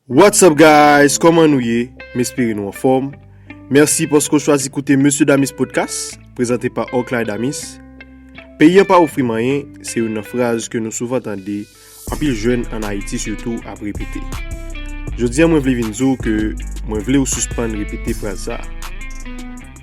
What's up guys kòman nou ye m espere nou anfòm mèsi paske w chwazi koute Mesye Damis Podcast prezante pa Oakley Damis peyi an pa ofri m anyen se youn nan fraz ke nou souvan tande anpil jèn an Ayiti sitou ap repete jodi an mwen vle vin di w ke mwen vle w sispann repete fraz sa.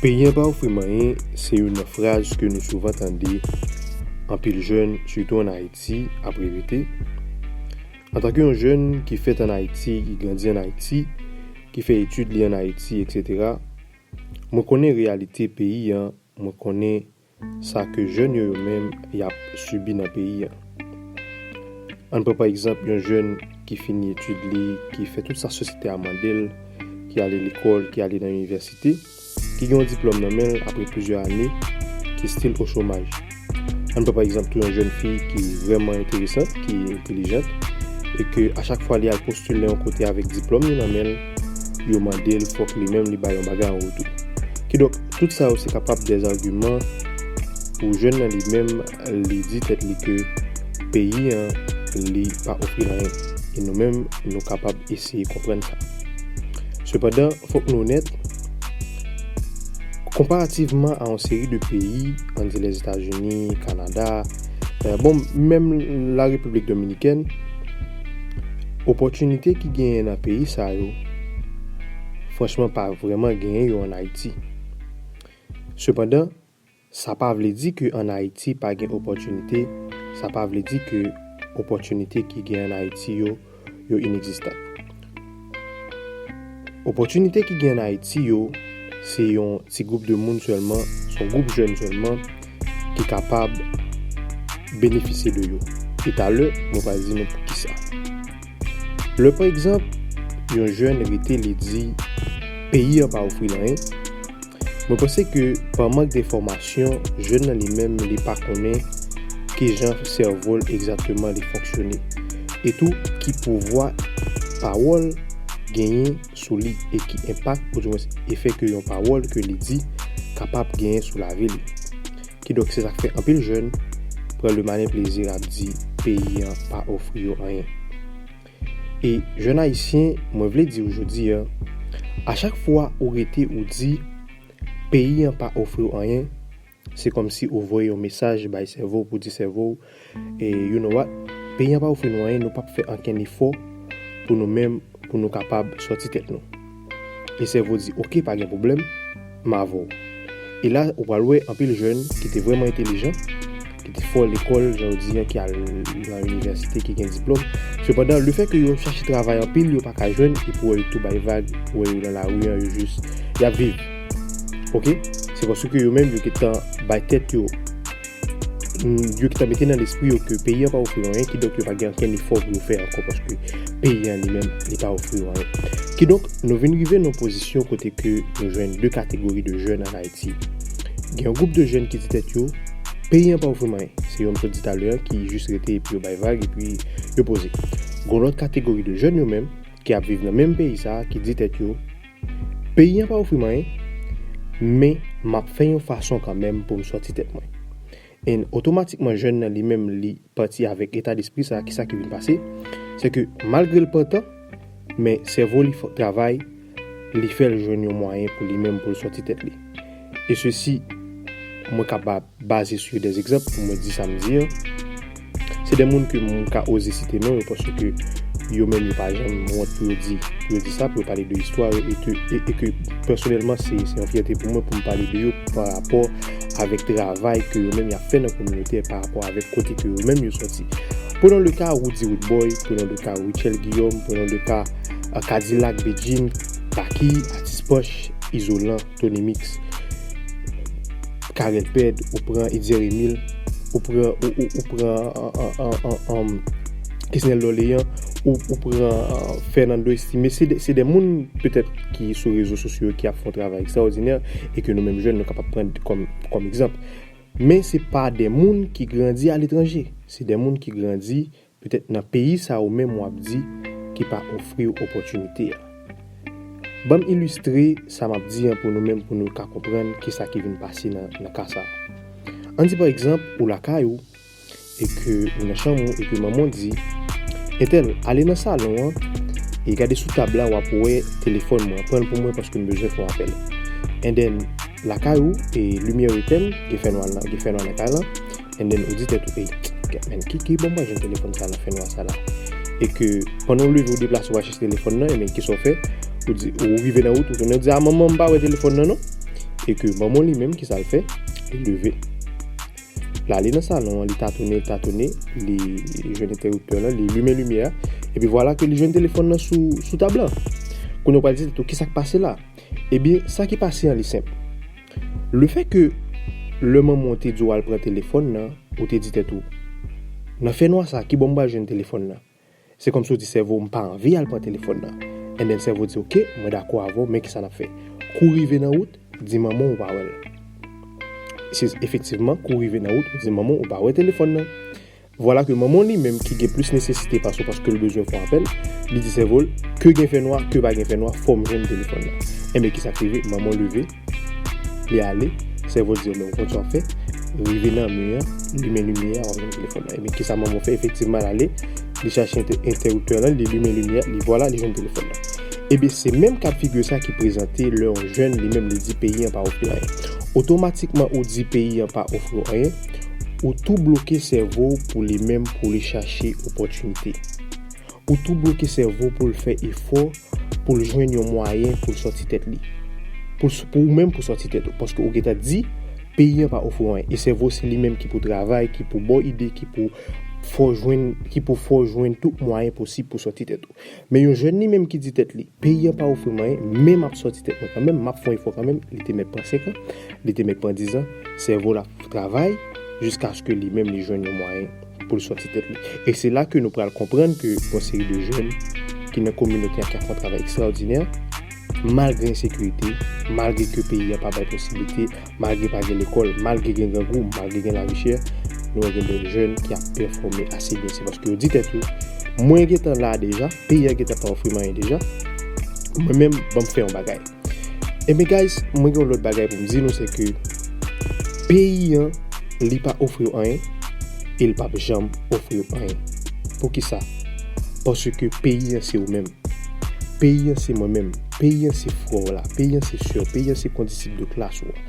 Peyen pa ofri m anyen se youn nan fraz ke nou souvan tande anpil jèn sitou an Ayiti ap repete. Antanke yon jèn ki fèt an Ayiti, ki grandi an Ayiti, ki fè etid li an Ayiti eksetera, mwen konnen reyalite peyi an, mwen konnen Sa ke jèn yo yo menm y ap sibi nan peyi an. Ann pran pa egzanp yon jèn ki fini etid li, ki fè tout sa sosyete a mande l, ki ale lekòl, ki ale nan inivèsite, ki gen yon diplòm nan men l apre plizyè ane, ki stil o chomaj. Ann pran pa egzanp tou yon jèn fi ki vrèman enteresant, ki entelijant, e ke a chak fwa li al postile yon kote avèk diplòm li nan men l, yo mande l fòk li menm li bay yon bagay an retou. Kidonk, tout sa yo se kapab dè zagiman pou jèn nan li menm li di tèt li ke peyi an li pa ofri l anyen. E nou menm nou kapab eseye konprann sa. Sepandan, fòk nou onèt, konparativman a yon seri de peyi, ann di Lèzetazini, Kanada, bon, menm Larepiblik Dominikèn, Opòtinite ki genyen nan peyi sa yo, franchman pa vrèman genyen yo an Ayiti. Sepandan, sa pa vle di ke an Ayiti pa gen opòtinite, sa pa vle di ke opòtinite ki gen an Ayiti yo, yo inegzistan. Opòtinite ki gen an Ayiti yo, se yon ti gwoup de moun sèlman, se yon gwoup jèn sèlman ki kapab benefisye de yo. E talè, mwen pral di nou poukisa. Lè pa egzanp, yon jèn rete li di peyi an pa ofri l anyen, Mwen panse ke pa mank de fòmasyon, jèn nan li menm li pa konnen ki jan sèvo l egzakteman li fonksyone. E tou ki pouvwa pawòl genyen sou li e ki enpak ou di mwens efè ke yon pawòl ke li di kapab genyen sou lavi li. Kidonk se sa k fè anpil jèn pran le malin plaisir ap di peyi an pa ofri yo anyen. E jèn ayisyen mwen vle di ou jodi a, a chak fwa ou rete ou di peyi an pa ofri w anyen, se kòmsi ou voye yon mesaj bay sèvo w pou di sèvo w e you know what, peyi an pa ofri nou anyen nou pap fè ankenn efò pou nou menm pou nou kapab sòti tèt nou. E sèvo di ok pa gen pwoblèm, m avè w. E la ou pral wè anpil jèn ki te vrèman entelijan, ki te fò lekòl jan yo di an, ki al nan inivèsite, ki gen diplòm. Sepandan lefè ke yo chache travay anpil yo pa ka jwenn epi ou wè yo tou bay vag, ou wè yo nan lari an yo jis y ap viv. Ok. Se paske yo menm yo gen tan bay tèt yo. yo ki ta mete nan lespri yo ke peyi an pa ofri yo anyen, kidonk yo pa gen ankenn efò pou yo fè ankò paske peyi an li menm li pa ofri yo anyen. Kidonk, nou vin rive nan yon pozisyon kote ke nou jwenn 2 kategori de jèn an Ayiti. Gen yon gwoup de jèn ki di tèt yo, Peyi an pa ofri m anyen. Se yo m sot di talè an ki jis rete epi yo bay vag epi yo poze. Gon lòt kategori de jèn yo menm ki ap viv nan menm peyi sa a ki di tèt yo, Peyi an pa ofri m anyen, men m ap fè yon fason kanmenm pou m sòti tèt mwen. And otomatikman jèn nan li menm li pati avèk eta despri sa, kisa ki vin pase, se ke malgre l pran tan, men sèvo li fòk travay, li fè l jwenn yon mwayen pou li menm pou l sòti tèt li. E sesi, mwen ka ba baze sou de egzanp pou mwen di sa m di an, se de moun ke m ka oze site non yo paske yo menm yo pa janm wont pou yo di pou yo di sa, pou yo pale de istwa yo e ke e ke pèsonèlman se yon fyète pou mwen pou m pale de yo pa rapò avèk travay ke yo menm y ap fè nan kominote pa rapò avèk kote ke yo menm yo sòti. Prenons le cas Roody Roodboy, prenons le cas Rutshelle Guillaume, prenons le cas Kadilak, Bedjine, Baky, Atis Panch, Izolan. Tony mix Carel pèd ou pran Etzer Emile ou pran ou pran Kesnel Dorlean ou pran Fernando Estimé se de moun petèt ki sou rezo sosyo ki ap fè yon travay ekstraòdinè e ke nou menm jèn nou kapab pran kòm egzanp men se pa de moun ki grandi aletranje se de moun ki grandi Petèt nan peyi sa ou menm wap di ki pa ofriw opòtinite a. Banm ilistre sa map di an pou nou menm pou nou ka konprann kisa ki vin pase nan ka sa. An di pa egzanp ou lakay ou e ke ou nan chanm ou e ke manman w di, Entèl, ale nan salon an e gade sou tab la wap wè telefòn mwen, pranl pou mwen paske m bezwen fè yon apèl. Endèn, lakay ou e limyè yo etèn, gen fènwa nan kay lan. And then ou di tèt ou ey Gad man ki ki bon mwen jwenn telefòn sa nan fènwa sa la E ke pandan ou leve ou deplase ou al chèche telefòn nan ebyen kisa ou fè Ou di ou rive nan wout ou tounen ou di a manman m pa wè telefòn nan non E ke manman w li menm kisa l fè Li leve L ale nan salon an li tatone tatone li jwenn entèwiptè lan li limen limyè a Epi vwala ke li jwenn telefòn nan sou sou tab lan Kounye w pral di tèt ou kisa k pase la Ebyen sa ki pase an li senp Le fè ke lè manman w te di w al pran telefòn nan, ou te di tèt ou, Nan fè nwa sa, kibò m pral jwenn telefòn nan? Se kòmsi w di sèvo w, M pa anvi al pran telefòn nan. Enben, sèvo di, Oke, mwen dakò avè w, men kisa n ap fè? Kou rive nan wout, di manman w ou pa wè l. Efektivman, kou rive nan wout, ou di manman w ou pa wè telefòn nan. Vwala ke manman w li menm ki gen plis nesesite pase w paske l bezwen fon apèl, li di sèvo l, ke gen fè nwa, ke pa gen fè nwa, fò m jwenn telefòn nan. Enben kisa k rive? Manman w leve, li ale, sèvo l di enben ou konn sa w fè, rive nan mi an, limen limyè a w ap jwenn telefòn nan. Enben kisa manman w fè? Efektivman l ale, li chache entèriptè lan, li limen limyè a, li vwala, li jwenn telefòn nan. Enben se menm ka figi sa ki prezante lè yon jèn li menm li di peyi an pa ofri anyen. Otomatikman ou di peyi an pa ofri w anyen. Ou tou bloke sèvo w pou li menm pou li chache opòtinite. Ou tou bloke sèvo w pou l fè efò pou l jwenn yon mwayen pou l sòti tèt li. Pou ou menm pou sòti tèt ou. Paske ou gentan di, peyi an pa ofri w anyen. E sèvo w se li menm ki pou travay, ki pou ba w ide, ki pou fè w jwenn tout mwayen posib pou sòti tèt ou. Men yon jèn li menm ki di tèt li, peyi an pa ofri mwen anyen, men m ap sòti tèt mwen kanmenm, m ap fè yon efò kanmenm, li te mèt pran senkan, li te mèt pran dizan, sèvo l ap travay jiskaske li menm li jwenn yon mwayen pou l sòti tèt li. E se la ke nou pral konprann ke yon seri de jèn ki nan kominote a ki ap fè yon travay ekstraòdinè, malgre ensekirite, malgre ke peyi a pa bay posiblite, Malgre pa gen lekòl, malgre gen grangou, malgre gen lavi chè, nou wè gen de jèn ki ap pèfòme ase byen. Se paske yo di tèt yo, mwen gen tan la deja, peyi a gen tan pa ofri m anyen deja, mwen menm ban m fè yon bagay. Enben guys, mwen gen yon lòt bagay pou m di nou se ke peyi an li pa ofri w anyen e l pap janm ofri w anyen. Poukisa? Paske peyi an se ou menm. Peyi an se mwen menm. Peyi an se frè w la, peyi an se sè w, peyi an se kondisip de klas ou an,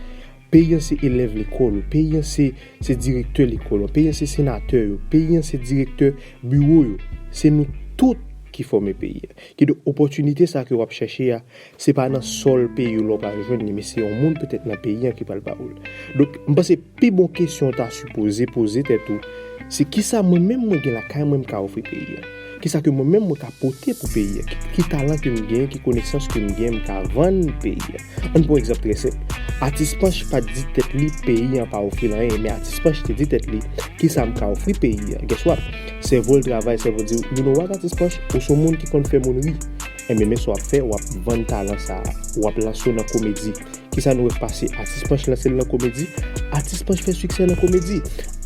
peyi an se elèv lekòl ou, peyi an se direktè lekòl an, peyi an se senatè yo, peyi an se direktè biwo yo. Se nou tout ki fòme peyi an. Kidonk, opòtinite sa ke w ap chèche a, se pa nan sòl peyi w la w pral jwenn li, men se yon moun petèt nan peyi an ki pral ba ou l. Donk, m panse pi bon kesyon w ta sipoze poze tèt ou, se kisa mwen menm mwen gen lakay mwen m ka ofri peyi an? Kisa ke mwen menm mwen ka pote pou peyi a? Ki talan ke m gen, ki konesans ke m gen m ka vann peyi a? Ann pran yon egzanp trè senp. Atis Panch pa t di tèt li peyi an pa ofri l anyen, men Atis Panch te di tèt li, kisa m ka ofri peyi a? Gès wòt? Sèvo l travay, sèvo l di, you no wòt Atis Panch, ou s on moun ki konn fè moun ri. Enben men sa w ap fè, w ap vann talan sa a. W ap lanse w nan komedi. Kisa nou wè k pase? Atis Panch lanse l nan komedi, Atis Panch fè siksè nan komedi.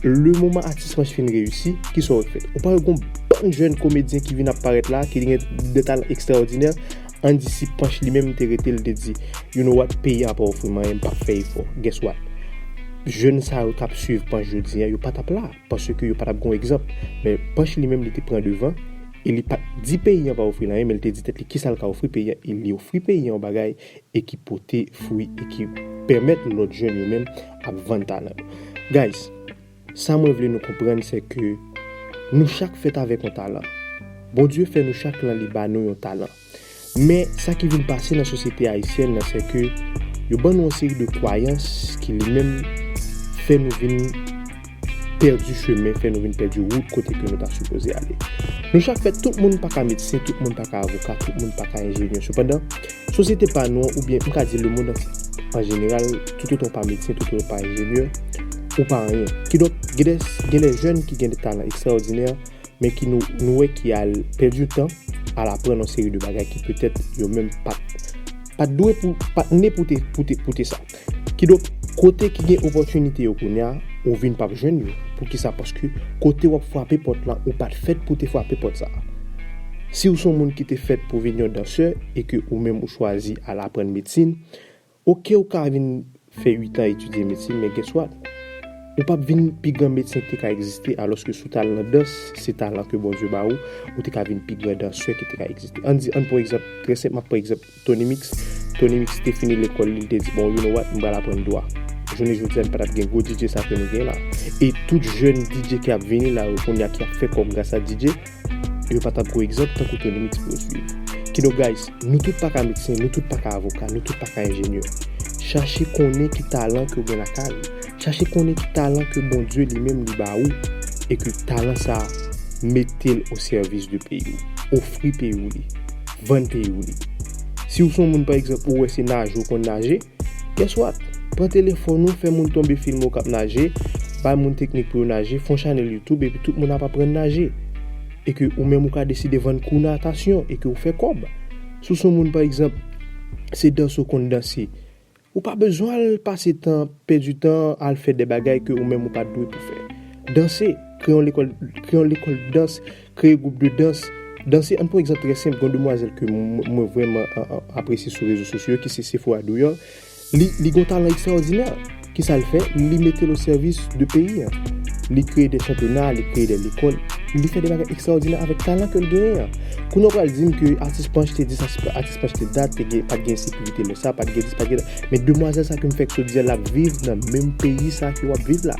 Le moman Atis Panch fin reyisi, kisa w wè k fèt? Ou pa wè gon bann jèn komedyen ki vin ap parèt la a, ki gen de talan ekstraòdinè? An di si Panch li menm te rete, li te di, You know what? Peyi a pa ofri m anyen, m p ap fè efò. Guess what? Jèn sa yo k ap suiv Panch jodi a, yo pa t ap la, paske yo pa t ap gen yon egzanp. Men, Panch li menm li te pran devan e li pa t di peyi an pa ofri l anyen, men li te di tèt li kisa l ka ofri peyi an e li ofri peyi an yon bagay e ki pote fwi e ki pèmèt lòt jèn yo menm ap vann talan yo. Guys, sa mwen vle nou konprann se ke nou chak fèt avèk yon talan. Bondye fè nou chak lan li ba nou yon talan. Men sa ki vin pase nan sosyete ayisyèn nan se ke yo ban nou yon seri de kwayans ki li menm fè nou vin. pèdi chemen, fè nou vin pèdi wout kote ke nou ta sipoze ale. Nou chak fè, tout moun pa ka medsen, tout moun pa ka avoka, tout moun pa ka enjenyè. Sepandan, sosyete pa nou an, oubyen m ka di lemonn antye an jeneral, toutotan w pa medsen, toutotan w pa enjenyè, ou pa anyen. Kidonk, gen de, gen de jèn ki gen de talan ekstraòdinè, men ki nou, nou wè ki al pèdi tan, al aprann yon seri de bagay ki petèt yo menm pa t, pa t dwe pou, pa t ne pou te, pou te, pou te sa. Kidonk, kote ki gen opòtinite yo kounye a, ou vin pap jwenn yo. Poukisa? Paske kote w ap frape pòt la, ou pa t fèt pou w te frape pòt sa a. Si w se yon moun ki te fèt pou vin yon dansè e ke ou menm ou chwazi al aprann medsin, oke ou ka vin fè uitan etidye medsin men guess what? Ou pap vin pi gran medsen ki te ka egziste alòske si w t al nan dans, se talan ke Bondye ba ou, ou te ka vin pi gran dansè ki te ka egziste. Ann di, ann pran egzanp, trè senp m ap pran egzanp. Tonymix Tonymix te fini lekòl li, li te di bon you no wat m pral aprann dwa. Jounen jodi a n pa tap gen gwo DJ sa ke nou gen la. E tout jèn DJ ki ap vini la yo kounya ki ap fè kòb gras a DJ, yo pa tap gwo egzanp tankou Tonymix pou yo swiv. Kidonk guys, nou tout pa ka medsen, nou tout pa ka avoka, nou tout pa ka enjenyè. Chache konnen ki talan ke w gen lakay ou. Chache konnen ki talan ke Bondye li menm li ba ou e ke talan sa a mete l o sèvis de peyi w. Ofri peyi w li. Vann peyi w li. Si w s on moun pa egzanp ou wè se naje w konn naje, guess what? Pran telefòn ou, fè moun tonbe filme w k ap naje, bay moun teknik pou yo naje, fon chanèl youtube epi tout moun ap aprann naje. E ke ou menm ou ka deside vann kou natasyon e ke ou fè kòb. Si w s on moun pa egzanp se danse w konn danse, Ou pa bezwen al pase tan, pèdi tan al fè de bagay ke ou menm ou pa dwe pou fè. Danse, kreye yon lekòl, kreye yon lekòl dans, kreye gwoup de dans, danse, ann pran yon egzanp trè senp, gen yon demwazèl ke mwen vrèman apresye sou rezo sosyo yo ki se Sephora Dourrior, li gen yon talan ekstraòdinè, kisa l fè? Li mete l o sèvis de peyi an, li kreye de chanpyona, li kreye de lekòl, li fè de bagay ekstraòdinè avèk talan ke l genyen an. Kounye w pral di m ke atis Panch te di sa se pa atis. Se paske dat te gen, pat gen ensekirite lè sa, pat gen dis, pat gen dat. Men demwazèl sa ke m fèk sot di a, l ap viv nan menm peyi sa ke w ap viv la.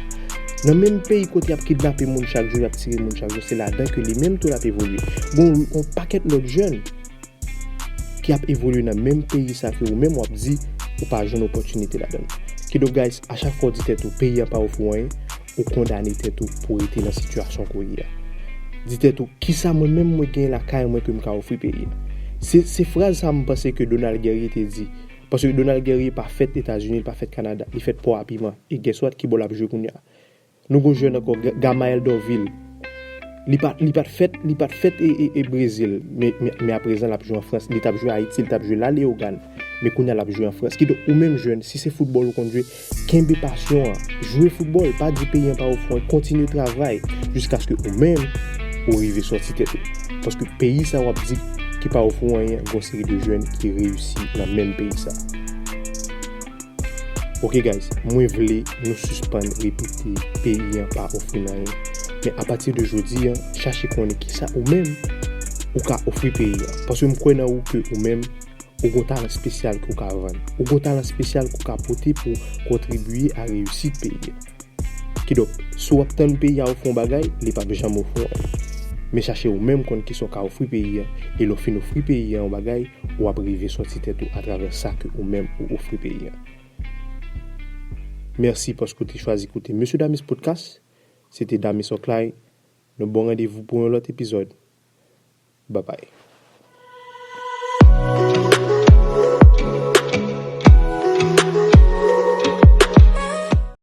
Nan menm peyi kote y ap kidnape moun chak jou, y ap tire moun chak jou, se ladan ke li menm tou l ap evolye. Gon on pakèt lòt jèn ki ap evolye nan menm peyi sa ke ou menm w ap di ou pa jwenn opòtinite ladan l. Kidonk guys, a chak fwa w di tèt ou peyi a pa ofri w anyen, Ou kondane tèt ou pou rete nan sitiyasyon ou ye a. Di tèt ou, kisa mwen menm mwen gen lakay mwen ke m ka ofri peyi a? Se, se fraz sa a m panse ke Donald Guerrier te di. Paske Donald Guerrier pa fèt Etazini, li pa fèt Kanada. Li fèt Pò a Piman. E guess what? Ki bò l ap jwe kounye a? Nou gen yon jèn ankò, Gamael Dorvil. Li pa, li pa t fèt, li pa t fèt e, e, e Brezil. Me, me, men aprezan l ap jwe an Frans. Li t ap jwe Ayiti, li t ap jwe La Leogane. Men kounye a l ap jwe an Frans. Kidonk, ou menm jèn, si se foutbòl ou konn jwe, Kenbe pasyon an, jwe foutbòl, pa di peyi an pa ofri w anyen, kontinye travay jiskaske ou menm ou rive sòti tèt ou. Paske peyi sa w ap di ki pa ofri w anyen, gen yon seri de jèn ki reyisi nan menm peyi sa. Ok guys, mwen vle nou sispann repete peyi an pa ofri n anyen. Men apati de jodi an, chache konnen kisa ou menm ou ka ofri peyi an. Paske m kwè nan ou ke ou menm. Ou gon talan spesyal ke w ka vann. Ou gon talan spesyal ke w ka pote pou w kontribiye a reyisit peyi a. Kidonk, si w ap tann peyi a ofri w bagay, li pap janm ofri w anyen. Men chache ou menm konn kisa w ka ofri peyi a, e lè w fin ofri peyi a yon bagay, ou ap rive sòti tèt ou atravè sa ke ou menm ou ofri peyi a. Mèsi paske w te chwazi koute Mesye Damis Podcast. Se te Damis Oclay. Nou ba w randevou pou yon lòt epizòd. Babay.